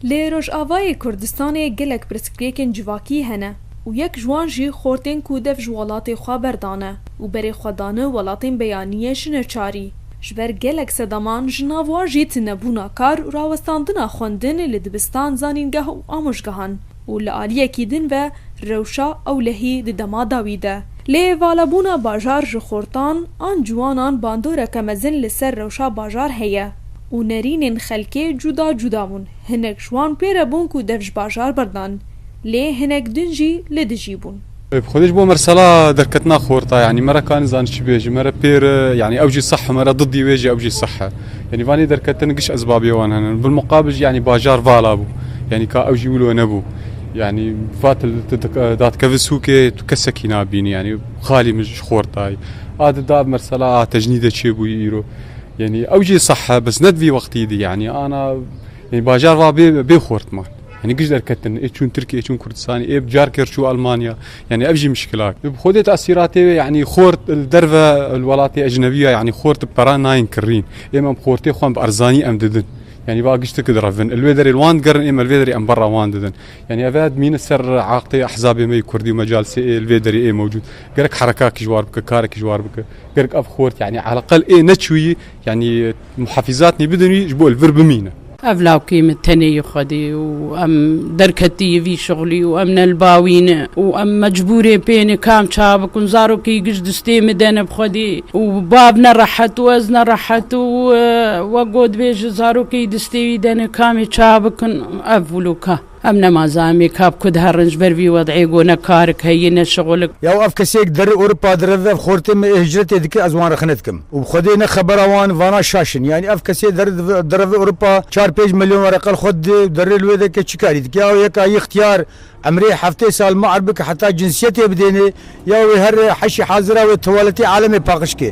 Li Rojavayê Kurdistanê gelek pirsgirêkên civakî hene û yek ji wan jî xortên ku dev ji welatê xwe berdane û berê xwe dane welatên beyaniyê ji neçarî ji ber gelek sedaman ji nav wan jî tunebûna kar û rawestandina xwendin li dibistan, zanîngeh û amojgehan û li aliyekî din ve rewşa ewlehî di dema dawî de. Lê valabûna bajar ji xortan an ciwanan bandoreke mezin li ser rewşa bajar heye û nerînên xelkê cuda cuda bûn, hinek ji wan pê re bûn ku dev ji bajar berdan, lê hinek din jî li dijî bûn. Bi xwe de ji bo me re sala derketina xorta yanî me re ka nizanin çi bêjin me re pêr e yanî ew jî seh e me re didî wê jî ew jî seh e yanî vanê derketin giş ezbabê wan hene bilmuqabil jî yanî bajar vala bû yanî ka ew jî wilo nebû yanî vatil datkevin sûkê tu kesekî nabînî yanî xalî min ji xortayî a di da mersela a tejnî de çê bûyî îro yanî ew jî seh e bes ne di vî wextî dî yanî ana yanî bajar va bê bê xortman Hani giş derketin, e çun Türkiye, e çun Kurdistani, e carker çu Almanya. Yani ev jî mişkilat. Xodê tasiratê wê yani xort li derve li welatê ecnebiya yani xort bi peran nayên kirîn. Êm em xortê xwe bi erzanî em didin. Yani va giştik direvin. Li wê derê li wan digerin êm li vê derê em berra wan didin. Yani ev ed mîne ser aqtê ehzabê me Kurdî û mecalsê ê li vê derê ê mewcûd. Gerek herekakî ji war bike, karekî ji war bike. Gerek ev xort yani eleqel ê neçûyî yani Muhafîzatnî bidinî ji bo li vir bimîne. Ev lawkê min tenê yê Xwedê û em derketî yê vî şixlî û em ne li ba wî ne û em mecbûrê pê ne kam ça bikin. Zarokê giş distê min de ne bi Xwedê û bab ne rehet û ez ne rehet û we got bê ji zarokê distê wî de ne kamê ça bikin. Ev wilo ka. Em nemaze em ê ka bi ku diherin ji ber vî wedîyê ku ne karik heye ne şixulik. Yaw ev kesêk di derê Ewropa di reve ev xortê me ê hicretê dike ez wan rexne dikim û bi xwedê ne xebera wan vana şaş in yanî ev kesê derê di reve Ewropa çar pênc milyon were qel xwe didê û derê li wê de ke çikarî dike yaw yeka yî xtiyar emrê heftê sal miar bike heta cinsiyetê bidênê yaw wê here heşî hazira wê tuwaletê alemê paqij ke.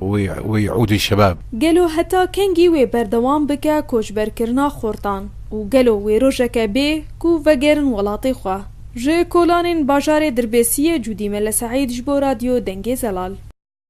wê Udê Şebab. Gelo heta kengî wê berdewam bike koçberkirina xortan û gelo wê rojeke bê ku vegerin welatê xwe? Ji Kolanên bajarê Dirbêsiyê Cûdî Mele Seîd ji bo Radyo Dengê Zelal.